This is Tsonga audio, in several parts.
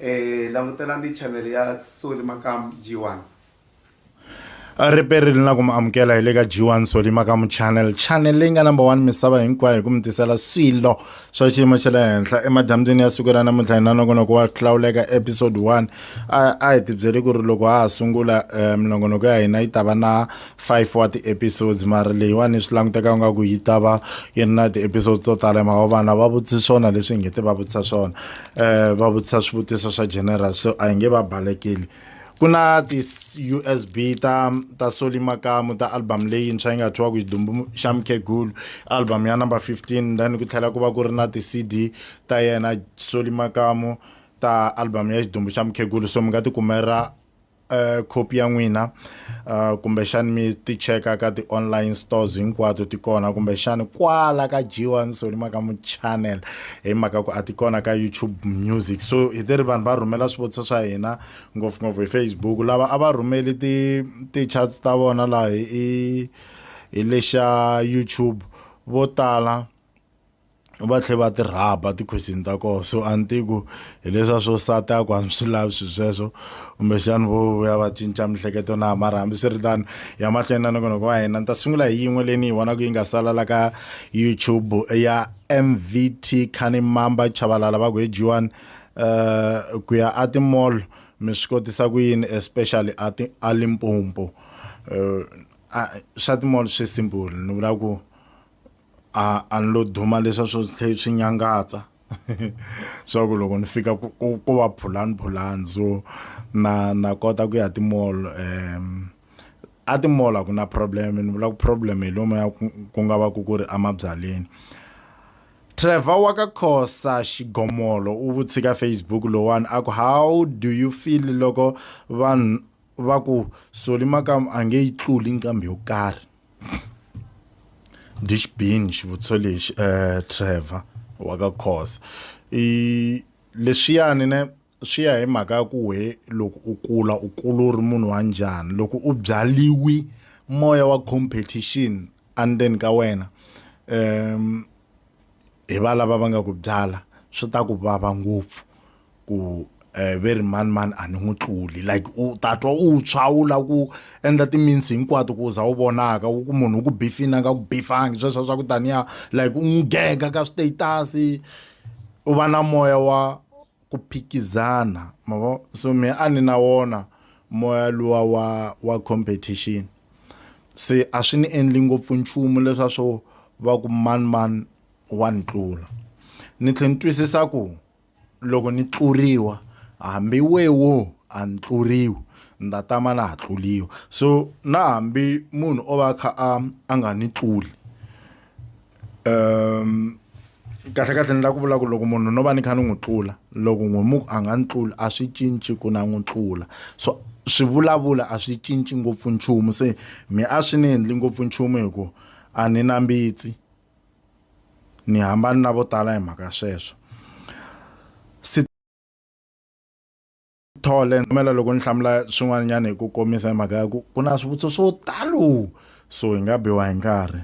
Eh, langutelani channel ya Soli Makamu G1. riperi ri na ku mi amukela hi le ka g1 soli makamu channel channel leyi nga number one misava hinkwayo hi ku mi tisela swilo swa xiyimo xa le henhla emadyambyini ya siku ra namuntlha hi na nongonoko wa hlawuleka episode 1 a a hi tibyeli ku ri loko ha ha sungula um minongonoko ya hina yi ta va na 5 wa ti-episodes mari leyiwani swi languteka u nga ku yi ta va yi ri na ti-episodes to tala hi mhaka vana va vutisa swona leswi hi nge te va vutisa swona um va vutisa swivutiso swa general so a hi nge va balekeli ku na ti-usb ta ta soli makamu ta album leyintshwa yi nga thyiwaku xidumbu xa mukhegulu album ya number 15 then ku tlhela ku va ku ri na ti-cd ta yena soli makamu ta album ya xidumbu xa mukhegulu so mi nga ti kumela Uh, khopi ya n'wina uh, kumbexani mi ti cheka ka ti-online stores hinkwato ti kona kumbexani kwala ka jiwa nsoni maka mu channel hi mhaka ku a ti kona ka youtube music so hi ti ri vanhu va rhumela swivutiso swa hina ngopfungopfu hi facebook lava a va rhumeli ti-charts ta vona laha hi hi lexa youtube vo tala va tlhe va ti rhaba tikhwesini ta koho so a ni tivi ku hi leswa swo sata ya ku a ni swi lavi swi sweswo kumbexani vo vuya va cinca mihleketo na mara hambi swi ri tano ya mahlweni na nongonoko wa hina ni ta sungula hi yin'we leyi ni yi vonaka yi nga salala ka youtube ya mvt khani mamba chavalala va ku hi jiwani um eh, ku ya a timall mi swi kotisa ku yini especially a ti a limpompo um eh, swa timall swi simple ni vula ku a a ni lo duma leswa swo tlhe swi nyangatsa swa ku loko ni fika ku ku va phulani phulani so na na kota ku ya timall um a timall a ku na problem ni vula ku problem hi lomu ya ku nga va ku ku ri emabyaleni Trevor wa ka Khosa xigomolo u vutsi ka Facebook lowani a ku how do you feel loko vanhu va ku soli makam a nge yi tluli nqambi yo karhi dish bin xivutiso lexi eh Trevor wa ka Khosa i leswiyani ne swi ya hi mhaka ya ku we loko u kula u kula u ri munhu wa njhani loko u byaliwi moya wa competition endzeni ka wena um hi valava va nga ku byala swi ta ku vava ngopfu ku um ve ri manimani a ni n'wi tluli like u ta twa u tshwa u lava ku endla timinsi hinkwato ku u za u vonaka u ku munhu u ku bifini a nga ku bifangi sweswo swa ku taniya like u n'wi gega ka status u va na moya wa ku phikizana ma vo so me a ni na wona moya luwa wa wa competition se a swi ni endli ngopfu nchumu leswa swo va ku manimani wa ni tlula ni tlhela ni twisisa ku Loko ni tluriwa hambi we wo a ni tluriwi ni ta tama na ha tluliwa so na hambi munhu o va a kha a a nga ni tluli um kahle kahle ni la ku vula ku loko munhu no va ni kha ni n'wi tlula loko n'wi mu a nga ni tluli a swi cinci ku na n'wi tlula so swi vulavula a swi cinci ngopfu nchumu se mi a swi ni endli ngopfu nchumu hi ku a ni na mbitsi ni hambani na vo tala hi mhaka sweswo thole mela loko ni hlamula swin'wanyana hi ku komisa hi mhaka ya ku ku na swivutiso swo talo so hi nga biwa hi nkarhi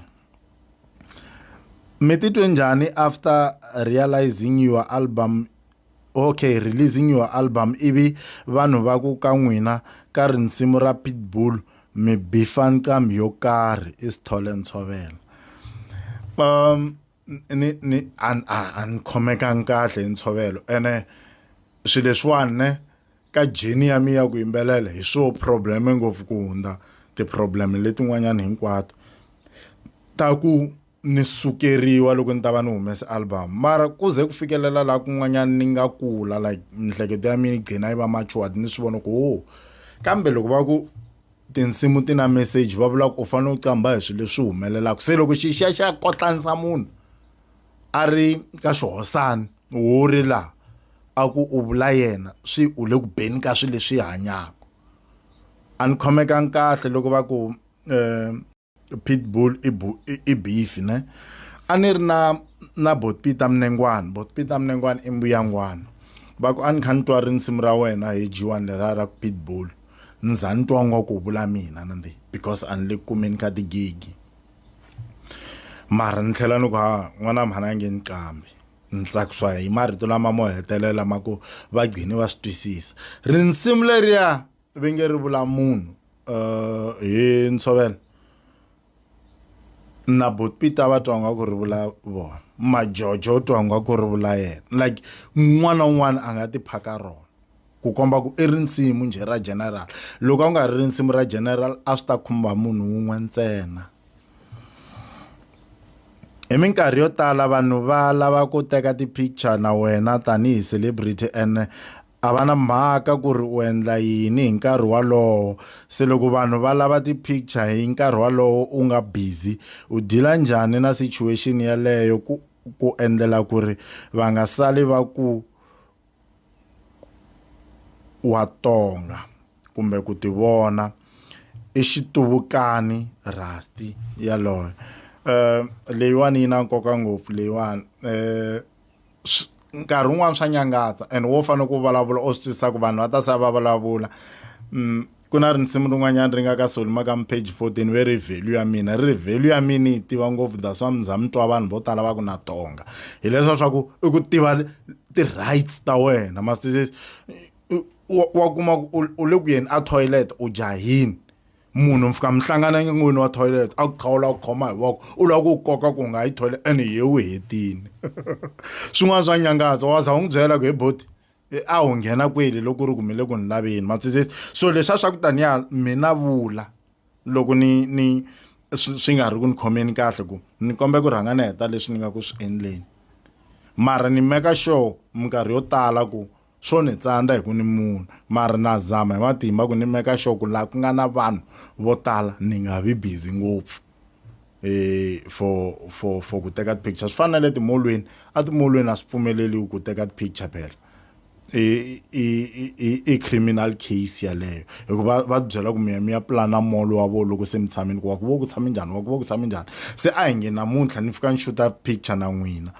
mi titwe njhani after realizing your album Ok releasing your album ivi vanhu va ku ka n'wina ka rinsimu ra Pitbull mi bifa nqambi yo karhi i Sithole Ntshovela um ni ni a a ni khomekangi kahle hi ntshovelo ene swilo leswiwani ne ka journey ya mina ya ku yimbelela hi swo problem ngopfu ku hundza ti-problem letin'wanyani hinkwato ta ku ni sukeriwa loko ni ta va ni humese album mara ku ze ku fikelela laha kun'wanyana ni nga kula like mihleketo ya mina yi gcina yi va matured ni swi vona ku o oh. kambe loko va ku tinsimu ti na message va vula ku u fanele u qambha hi swilo leswi humelelaka se loko xi xa xa kotlanisa munhu a ri ka xihosana wo ri laha a ku u vula yena swi u le ku beni ka swilo leswi hanyaka a ni khomekangi kahle loko va ku um pitbull i, bu, i, i beef ne a ni ri na na botpita mnengwana botpita mnengwana i mbuyangwana va ku a ni kha ni twa rinsimu ra wena hi jiwani leriya ra ku pitbull ni za ni twa ngwa ku vula mina nandi because a ni le ku kumeni ka tigigi mara ni tlhela ni ku ha n'wana mhana nge ni qambi ni tsakiswa hi marito lama mo hetelela ma ku va gcini va swi twisisa rinsimu leriya ve nge ri vula munhu um hi ntshovelo na botpita va twa nga ku ri vula vona majojo u twa nga ku ri vula yena like un'wana na un'wana a nga tiphaka rona ku komba ku i rinsimu njhe ra general loko a ku nga ri rinsimu ra general a swi ta khumba munhu wun'we ntsena hi minkarhi yo tala vanhu va lava ku teka ti-picture na wena tanihi celebrity and A va na mhaka ku ri u endla yini hi nkarhi wolowo. Se loko vanhu va lava ti-picture hi nkarhi wolowo u nga busy, u deal-a njhani na situation yeleyo ku ku endlela ku ri va nga sali va ku wa tonga kumbe ku ti vona i xituvukani Rusty yaloye. Leyiwani yi na nkoka ngopfu leyiwani . nkarhi wun'wani swa nyangatsa and wo fanele ku vulavula o swi twisisa ku vanhu va ta se va vulavula mm, ku na rinsimu rin'wanyana ri nga ka solima ka mpage 14 ve ri value ya mina ri ri value ya mina yi tiva ngopfu that's wa mza mi twa vanhu vo tala va ku na tonga hileswa swa ku i ku tiva ti-rights ta wena mastisesi wa kuma ku u le ku yeni a toilet u jahini munhu mi fika mi hlangana n'wini wa toilet a ku khawula ku khoma hi voko u lava ku koka ku nga yi toilet and hi u hetini swin'wana swa nyangatsa wa za u n'wi byela ku he boti a wu nghena kweli loko ri kumile ku ni laveni matwisisi so leswiya swa ku taniya mina vula loko ni ni swi nga ri ku ni khomeni kahle ku ni kombela ku rhanga ni heta leswi ni nga ku swi endleni mara ni meka sure minkarhi yo tala ku Swo ni tsandza hi ku ni munhu, mara na zama hi matimba ku ni meka sure ku laha ku nga na vanhu vo tala ni nga vi busy ngopfu for for for ku teka ti-picture. Swi fana na le timolweni, etimolweni a swi pfumeleriwi ku teka ti-picture phela. I i i i criminal case yeleyo hi ku va va tibyela ku mi ya mi ya pulana mall wa vona loko se mi tshamile ku wa ku va ku tshame njhani wa ku va ku tshame njhani. Se a hi nge namuntlha ni fika ni xuta picture na n'wina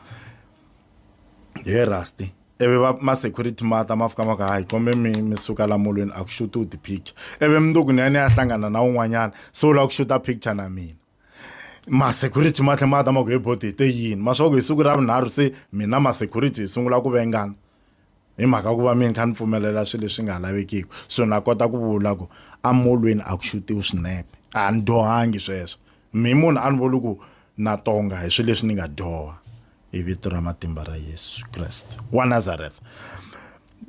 he Rusty. ivi va ma-security ma ta ma fika ma ku hayi kombe mi mi suka la molweni a ku xuti u ti-picture ivi mundzuku ni ya ni ya hlangana na un'wanyana se u lava ku xuta picture na mina ma-security ma tlhela ma ta ma ku he boti hi te yini ma swa ku hi siku ra vunharhu se mina ma-security hi sungula ku vengana hi mhaka ku va mina kha ni pfumelela swilo leswi nga lavekiki so na kota ku vula ku amolweni a ku xutiwi swinepe a ni dyohangi sweswo mi munhu a ni vuli ku na tonga hi swilo leswi ni nga dyoha hi vito ra matimba ra yesu kreste wa nazareth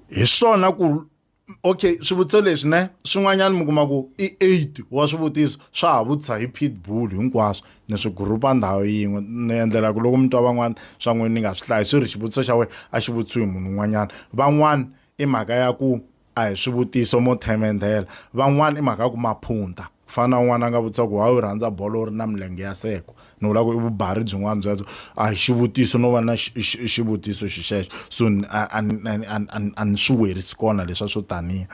hi swona ku okay swivutiso leswi ne swin'wanyana mi kuma ku i eight wa swivutiso swa ha vutisa hi pitbull hinkwaswo ni swi gurupa ndhawu yin'we ni endlela ku loko mi twa van'wana swa n'wini ni nga swi hlayi swi ri xivutiso xa wena a xi vutisiwi hi munhu un'wanyana van'wana i mhaka ya ku a hi swivutiso mo themendhela van'wana i mhaka ya ku maphunta ku fana na un'wana a nga vutisa ku wa yi rhandza bolo u ri na milenge ya seko ni vula ku i vubari byin'wana byebyo a hi xivutiso no va na xivutiso xixexo so a ni swi werisi kona leswa swo taniya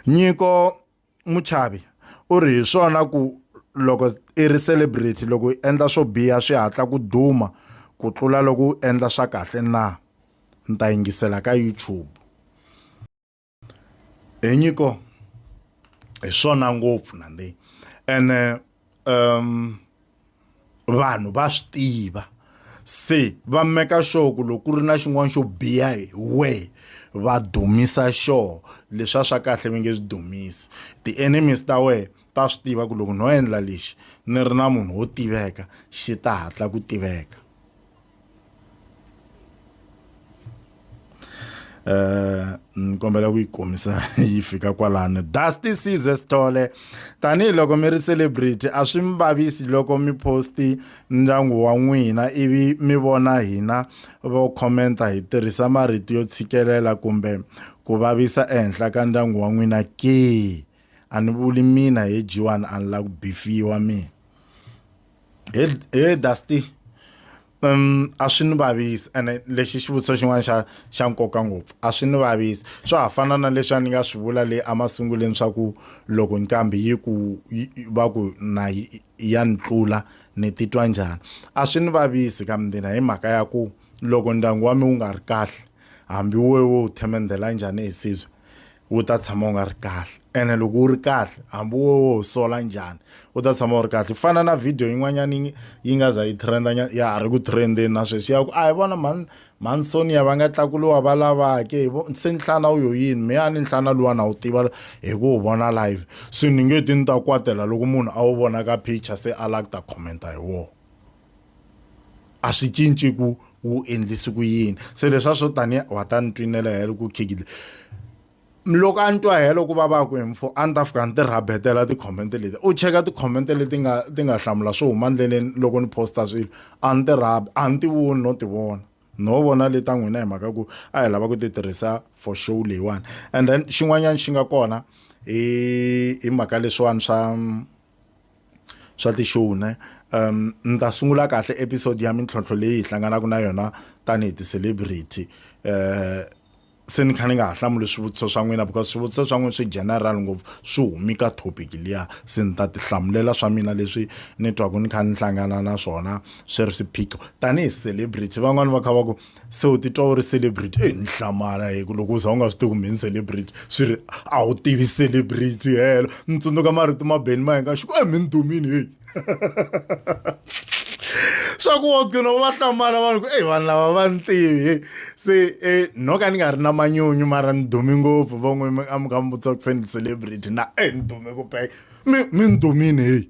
nyiko muchavi u ri hi swona ku loko i ri celebrity loko i endla swo biha swi hatla ku duma ku tlula loko u endla swa kahle na ni ta yingisela ka youtube hi nyiko hi swona ngopfu nandi ene um vanhu va swi tiva se va meka sure ku loko ku ri na xin'wana xo biha hi wehe va dumisa sure leswa swa kahle mi nge swi dumisi ti-enemies ta wehe ta swi tiva ku loko no endla lexi ni ri na munhu wo tiveka xi ta hatla ku tiveka eh ni kombela ku yi komisa yi fika kwalano dusty size sithole tanihiloko mi ri celebrity a swi mi vavisi loko mi posti ndyangu wa n'wina ivi mi vona hina vo commenta hi tirhisa marito yo tshikelela kumbe ku vavisa ehenhla ka ndyangu wa n'wina ke a ni vuli mina hi jiwani a ni la ku bifiwa mina he he dusty um a swi ni vavisi ene lexi xivutiso xin'wana xa xa nkoka ngopfu a swi ni vavisi swa ha fana na leswi a ni nga swi vula le emasunguleni swa ku loko nqambi yi ku yi- yi- va ku na yi- ya ni tlula ni titwa njhani a swi ni vavisi ka mina hi mhaka ya ku loko ndyangu wa mi wu nga ri kahle hambi wo wo wu themendhela njhani hi sizwe wu ta tshama wu nga ri kahle ene loko wu ri kahle hambi wo wo sola njhani wu ta tshama wu ri kahle ku fana na video yin'wanyana yi nga za yi trenda ya ha ri ku trendeni na sweswi ya ku a hi vona mhani mhani sonia va nga tlakuliwa va lavake hi vo se nhlana wu yo yini me a ni nhlana luwa na wu tiva hi ku wu vona live se ni nge ti ni ta kwatela loko munhu a wu vona ka picture se a lava ku ta commenta hi wona a swi cinci ku wu endlisi ku yini se leswa swo tanihi wa ta ni twinela helo ku khigile loko a ni twa helo ku va va ku hi mfo a ni ta fika ni ti rhabetela ti-comment leti u cheka ti-comment leti nga ti nga hlamula swo huma ndleleni loko ni posta swilo a ni ti rhabi a ni ti voni no ti vona no vona le ta n'wina hi mhaka ku a hi lava ku ti tirhisa for show leyiwani and then xin'wanyana xi nga kona hi hi mhaka leswiwani swa swa ti-show ne um ni ta sungula kahle episode ya mintlhontlho leyi hi hlanganaka na yona tanihi ti-celebrity um se ni kha ni nga ha hlamuli swivutiso swa n'wina because swivutiso swa n'wina swi general ngopfu swi humi ka topic liya se ni ta ti hlamulela swa mina leswi ni twaku ni kha ni hlangana na swona swi ri swiphiqo tanihi celebrity van'wani va kha va ku se u titwa u ri celebrity e ni hlamala hi ku loko u za u nga swi tivi kumbe ni celebrity swi ri a wu tivi celebrity helo ni tsundzuka marito ma beni ma hinga xiku e mi ni dumini heyi swa ku wa gcina u va hlamala vanhu ku eyi vanhu lava va ni tivi se e no ka ni nga ri na manyunyu mara ni dumi ngopfu va n'wi a mi kha mi vutisa ku se ni celebrity na e ni dume ku peka mi mi ni dumini heyi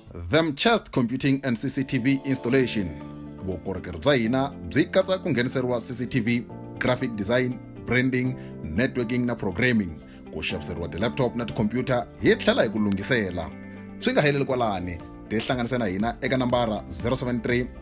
them chest computing and cctv installation vukorhokeri bya hina byi katsa ku ngheniseriwa cctv graphic design branding networking na programming ku xaviseriwa ti-laptop na tikhompyuta hi tlhela hi ku lunghisela swi nga heleli kwalani tihlanganise na hina eka nambara 073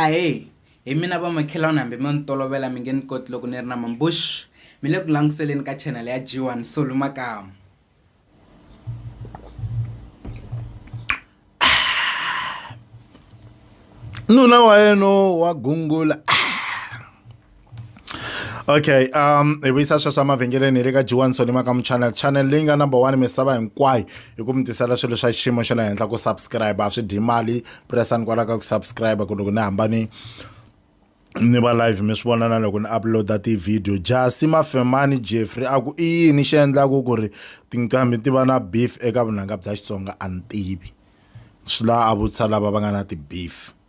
ahee hi mina vamakhelwani hambi mi ni tolovela mi nge ni koti loko ni ri na mambush mi le ku languseleni ka channel ya g one solu makamu nuna wa yena wa gungula okay um hi vuyisa swa swa mavhengeleni hi le ka jiwani sonima ka muchannel channel leyi nga number one misava hinkwayo hi ku mi tisela swilo swa xiyimo xa le henhla ku subscribe a swi dyi mali pressani kwala ka ku subscribe ku loko ni hambani ni va live mi swi vona na loko ni uploada tivhidiyo jasi mafemani jeffrey a ku i yini xi endlaku ku ri tinqambi ti va na beef eka vunanga bya xitsonga a ni tivi swi la a vutisa lava va nga na ti-beef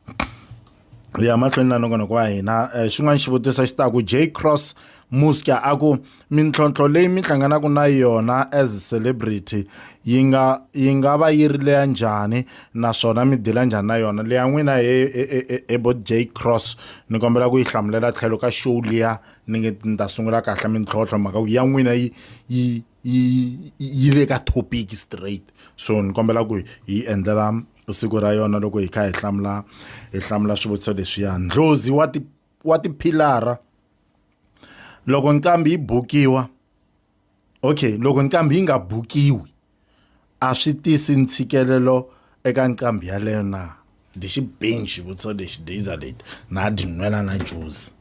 hi ya mahlweni na nongonoko wa hina eh, xin'wana xivutiso xi taku j cross muska a ku mintlhontlho leyi mi hlanganaka na yona as celebrity yi nga yi nga va yi ri leya njhani naswona mi dila njhani na yona leya n'wina he ebo j cross ni kombela ku yi hlamulela tlhelo ka show liya ni nge ni ta sungula kahle mintlhontlho mhaka ku ya n'wina yi yi yi yi le ka topic straight so ni kombela ku hi endlela siku ra yona loko hi kha hi hlamula hi hlamula swivutiso leswiya ndlozi wa ti wa tiphilara loko nqambi yi bukiwa okay loko nqambi yi nga bukiwi a swi tisi ntshikelelo eka nqambi yaleyo na ndi xi bing xivutiso lexi daza leti na dyi nwela na juzi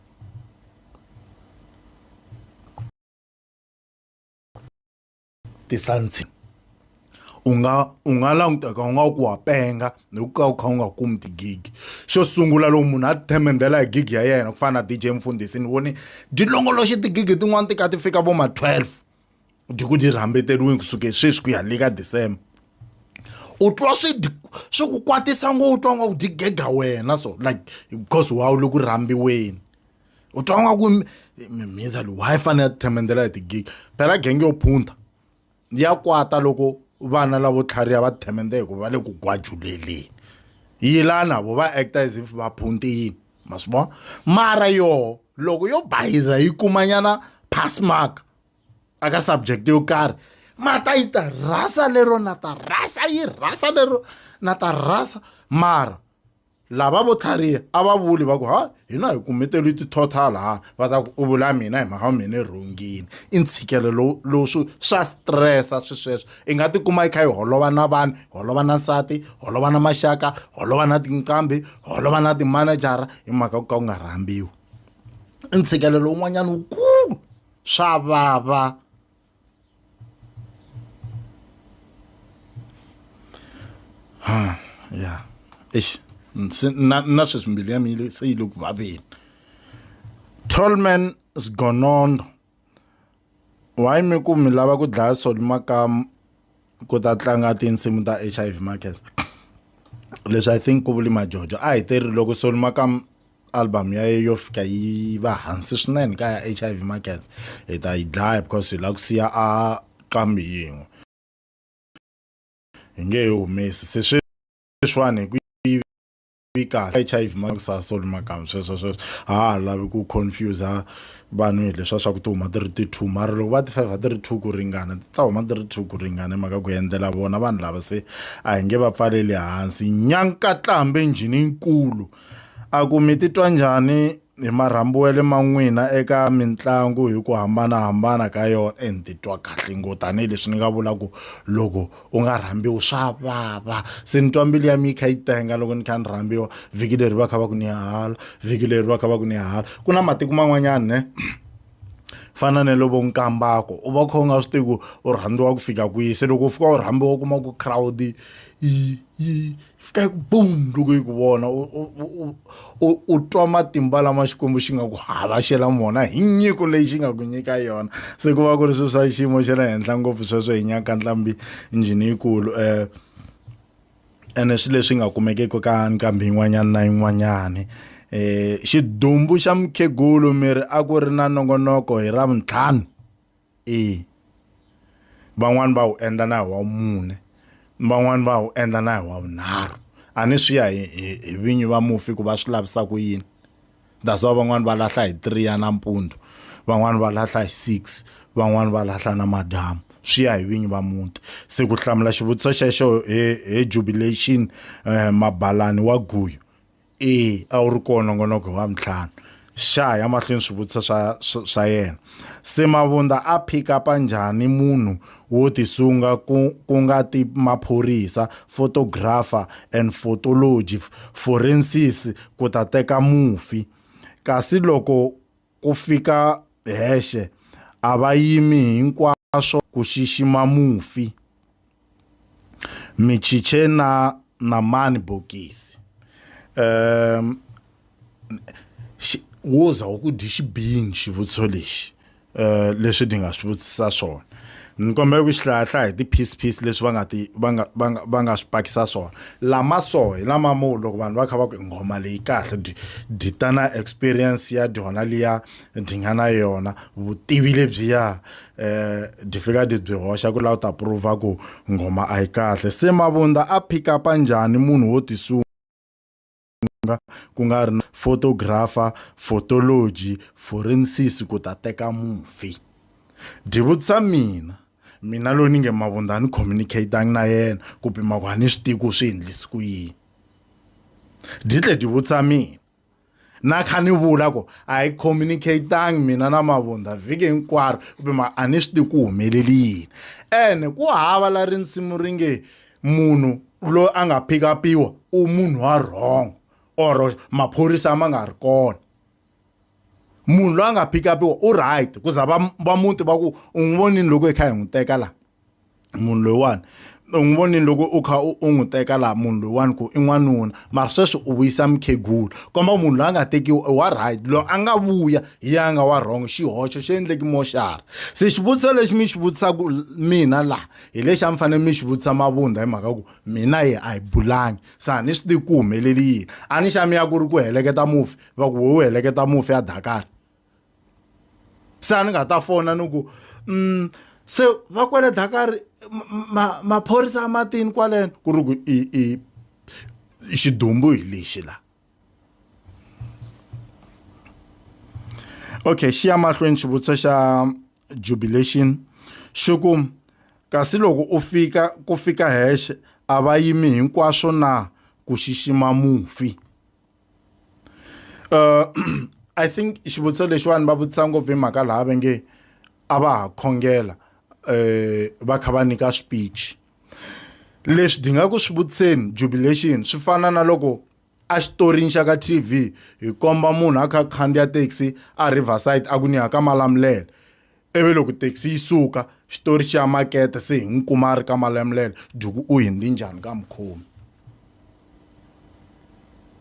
tisantsini u nga u nga languteka u nga ku wa penga ni ku ka u kha u nga kumi tigigi xo sungula loko munhu a tithemendela hi gigi ya yena ku fana na dj mfundhisi ni voni dyi longoloxe tigigi tin'wani ti ka ti fika vo ma 12 dyi ku dyi rhambeteriwini kusuke sweswi ku ya le ka december u twa swi swi ku kwatisa ngo u twa nga ku dyi gega wena so like because wa u le ku rhambiweni u twa nga ku mhindza lowu hayi fanele ya tithemendela hi tigigi phela genge yo phunta ya kwata loko vana lavo tlhariha va tithemende hikuva va le ku gwajuleleni yi la na vo va acta as if va phunti yini ma swi vona mara yoho loko yo bayiza yi kumanyana pass mark aka subject yo karhi ma ta yi ta rhasa lero na ta rhasa yi rhasa lero na ta rhasa mara lava vo tlhariha a va vuli va ku ha hina hi kumeteriwi ti-total ha va ta ku u vula mina hi mhaka mina i rhungile i ntshikelelo lowu lowu swi swa stressa swi sweswo i nga tikuma i kha yi holova na vanhu holova na nsati holova na maxaka holova na tinqambi holova na timanejara hi mhaka ku ka ku nga rhambiwi i ntshikelelo wun'wanyana wukulu swa vava. ha ya eish nsi- na na sweswi mbilu ya mina se yi le ku vaveni tolman sgonondo why mi ku mi lava ku dlaya soli makamu ku ta tlanga tinsimu ta hiv markets leswi i think ku vuli majojo a hi teri loko soli makam album ya ye yo fika yi va hansi swinene ka ya h i v markets hi ta yi dlaya because hi lava ku siya a qambi yin'we hi nge he humesi se sweswiwani hi ku tivi kahle hiv ma sa soli makamu sweswo sweswo a ha lavi ku confuse vanhu hi leswa swa ku ti huma ti ri ti two mara loko va ti five a ti ri two ku ringana ti ta huma ti ri two ku ringana mhaka ku endlela vona vanhu lava se a hi nge va pfaleli hansi nyankatlambe njhini nkulu a ku mi titwa njhani hi marhambu ya le man'wina eka mitlangu hi ku hambanahambana ka yona e ni titwa kahle ngo tanihileswi ni nga vula ku loko u nga rhambiwi swa vava se ni twa mbilu ya mi yi kha yi tenga loko ni kha ni rhambiwa vhiki leri va kha va ku ni hala vhiki leri va kha va ku ni hala ku na matiko man'wanyana ne fana na lovo nkambako u va kha u nga swi tivi ku u rhandziwa ku fika kwihi se loko u fika u rhambiwa u kuma ku crowd yi yi fika yi ku boom loko yi ku vona u twa matimba lama xikwembu xi nga ku havashela mona hi nyiko leyi xi nga ku nyika yona se ku va ku ri swilo swa xiyimo xa le henhla ngopfu sweswo hi nyaka ntlhambi njhini yikulu um eh, ene swilo leswi nga kumekeki ka nqambi yin'wanyana na yin'wanyani um xidumbu xa mukhegulu miri a ku ri na nongonoko hi ra vuntlhanu E. Van'wana va wu endla na hi wa vumune, van'wana va wu endla na hi wa vunharhu. A ni swi ya hi hi hi vinyi va mufi ku va swi lavisa ku yini. That's why van'wana va lahla hi three ya nampundzu, van'wana va lahla hi six, van'wana va lahla namadyambu. Swi ya hi vinyi va muti. Se ku hlamula xivutiso xexo hi hi jubilation mabalani wa guyu. e a wu ri kona nongonoko wa mintlhanu xa ya mahlweni swivutiso swa swa yena se mavunda a pick up njhani munhu wo tisunga ku ku nga ti maphorisa photographer and photology forensis ku ta teka mufi kasi loko Ku fika hexe, a va yimi hinkwaswo ku xixima mufi. Michiche na Namani Bokisi. Um, xi, wo za wu ku dyi xibini xivutiso lexi. Uh, leswi ni nga swi vutisa swona. ni kombela ku xi hlayahlaya hi ti-piece piece leswi va nga ti va nga va nga va nga swi pakisa swona lama so hi lama mo loko vanhu va kha va ku nghoma leyi kahle dyi dyi ta na experience ya dyona liya dyi nga na yona vutivi lebyiya um dyi fika dyi byi hoxa ku laha u ta prova ku nghoma a yi kahle se mavunda a pick upa njhani munhu wo tisunga Xitsonga ku nga ri na photographer, photology, forensics ku ta teka mufi. Dyi vutisa mina, mina loyi ni nge Mavundza a ni communicate-angi na yena ku pima ku a ni swi tivi ku swi endlisa ku yini. Dyi tlhela dyi vutisa mina, na kha ni vula ku a hi communicate-angi mina na Mavundza vhiki hinkwaro ku pima a ni swi tivi ku humelele yini. Ene ku hava laha risimu ri nge. munhu loyi a nga pick upiwa u munhu wa wrong or maphorisa ma nga ri kona munhu loyi a nga pick upiwa u right ku za va va muti va ku u n'wi vonini loko hi kha hi n'wi teka laha munhu loyiwani u n'wi vonini loko u kha u n'wi teka laha munhu loyiwani ku i n'wanuna mara sweswi u vuyisa mukhegula komba ku munhu loyi a nga tekiwa i wa right loyi a nga vuya hi ya nga wa wrong xihoxo xi endleki moxara se xivutiso lexi mi xi vutisaka mina laha hi lexi a mi fanele mi xi vutisa mavundha hi mhaka ku mina ye a hi bulangi se a ni swi tivi ku humeleli yini a ni xa mi ya ku ri ku heleketa mufi va ku wo heleketa mufi ya dakari se a ni nga ta fona ni ku um se va kwele dakari maphorisa ma matini kwaleno ku ri ku i i xidumbu hi lexi laha okay xiya mahlweni xivutiso xa jubilation xi ku kasi loko u fika ku fika hexe a va yimi hinkwaswo na ku xixima mufi uh, i think xivutiso lexiwani va vutisa ngopfu hi mhaka laha va nge a va ha khongela um va kha va nyika speech leswi dinga ku swi vutiseni jubilation swi fana na loko A xitorini xa ka TV hi komba munhu a kha a khandziya taxi a Riverside a ku ni ya ka Malamulele ivi loko taxi yi suka xitori xa makete se hi n'wi kuma a ri ka Malamulele Duku u hindzi njhani ka mukhomi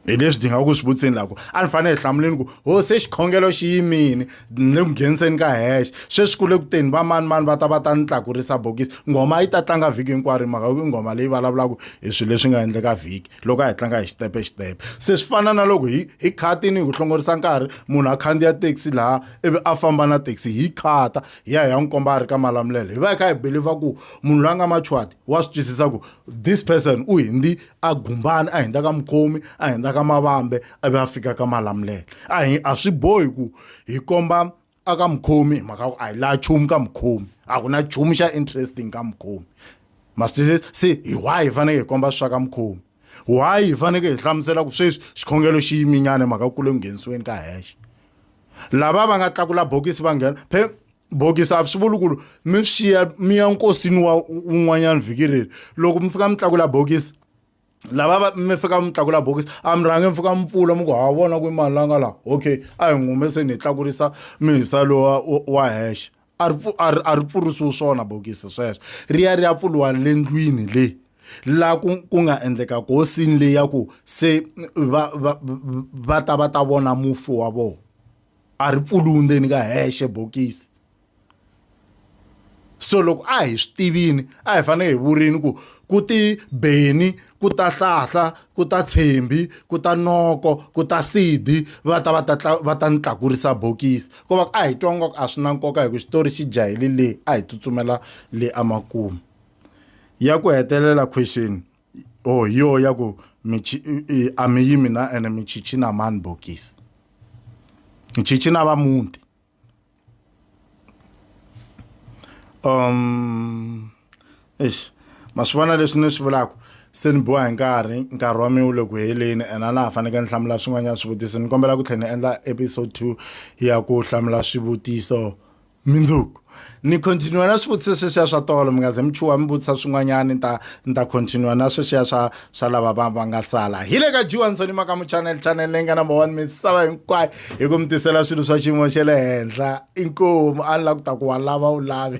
hi leswi dinga ku swi vutsini lako a ni fanele hi hlamuleni ku ho se xikhongelo xi yimini ni le ku ngheniseni ka hexe sweswi ku le ku teni va mani mani va ta va ta ni tlakurisa bokisi nghoma yi ta tlanga vhiki hinkwaro hi mhaka ku i nghoma leyi vulavulaka hi swilo leswi nga endleka vhiki loko a hi tlanga hi xitepe hi xitepe se swi fana na loko hi hi khatini hi ku hlongorisa nkarhi munhu a khandziya taxi laha ivi a famba na taxi hi khata hi ya hi ya n'wi komba a ri ka malamulelo hi va hi kha hi believer ku munhu loyi a nga machwati wa swi twisisa ku this person u hindi a gumbani a hundza ka mukhomi a hundza ka mavambe a ve a fika ka malamulelo a hi a swi bohi ku hi komba a ka mukhomi mhaka ku a hi laha chumu ka mukhomi a ku na chumu xa interesting ka mukhomi masitwisisa se hi why hi faneke hi komba swa ka mukhomi why hi faneke hi hlamusela ku sweswi xikhongelo xi yiminyana hi mhaka ku kule ku nghenisiweni ka hexe lava va nga tlakula bokisi va nghena phe bokisi a swi vuli ku mi swi xiya mi ya nkosini wa un'wanyana vhiki reri loko mi fika mi tlakula bokisi lava mi fika mi tlakula bokisi a mi rhange mi fika mi pfula mi ku ha vona ku mali la nga laha okay a hi ngume se ni hi tlakurisa mihisa lowa wa hexe a ri a ri pfurisiwi swona bokisi sweswo ri ya ri ya pfuriwa le ndlwini leyi la ku ku nga endleka kosini leyi ya ku se va va va ta va ta vona mufi wa vona a ri pfuriwi ndzeni ka hexe bokisi so loko a hi swi tivini a hi fanele hi vurini ku ku ti beni ku ta hlahla ku ta tshembi ku ta noko ku ta sidi va ta va ta va ta ni tlakurisa bokisi ko va a hi twa ngoko a swi na nkoka hi ku xitori xi jahele le a hi tsutsumela le emakumu ya ku hetelela question o oh, hi yo ya ku a mi yimi na ene michichina mani bokisi michichina va muti um eish ma swi vona leswi ni swi vulaka se ni boha hi nkarhi nkarhi wa mina wu le ku heleni and a na ha fanekele ni hlamula swin'wanyana swivutiso ni kombela ku tlhela ni endla episode two ya ku hlamula swivutiso mindzuku ni continue na swivutiso sweswiya swa tolo mi nga ze mi chuha mi vutisa swin'wanyana ni ta ni ta continue na sweswiya swa swa lava va va nga sala hi le ka jiwansoni maka mu channel channel leyi nga number one misava hinkwayo hi ku mi tisela swilo swa xiyimo xa le henhla inkomu a ni la ku ta ku wa lava u lavi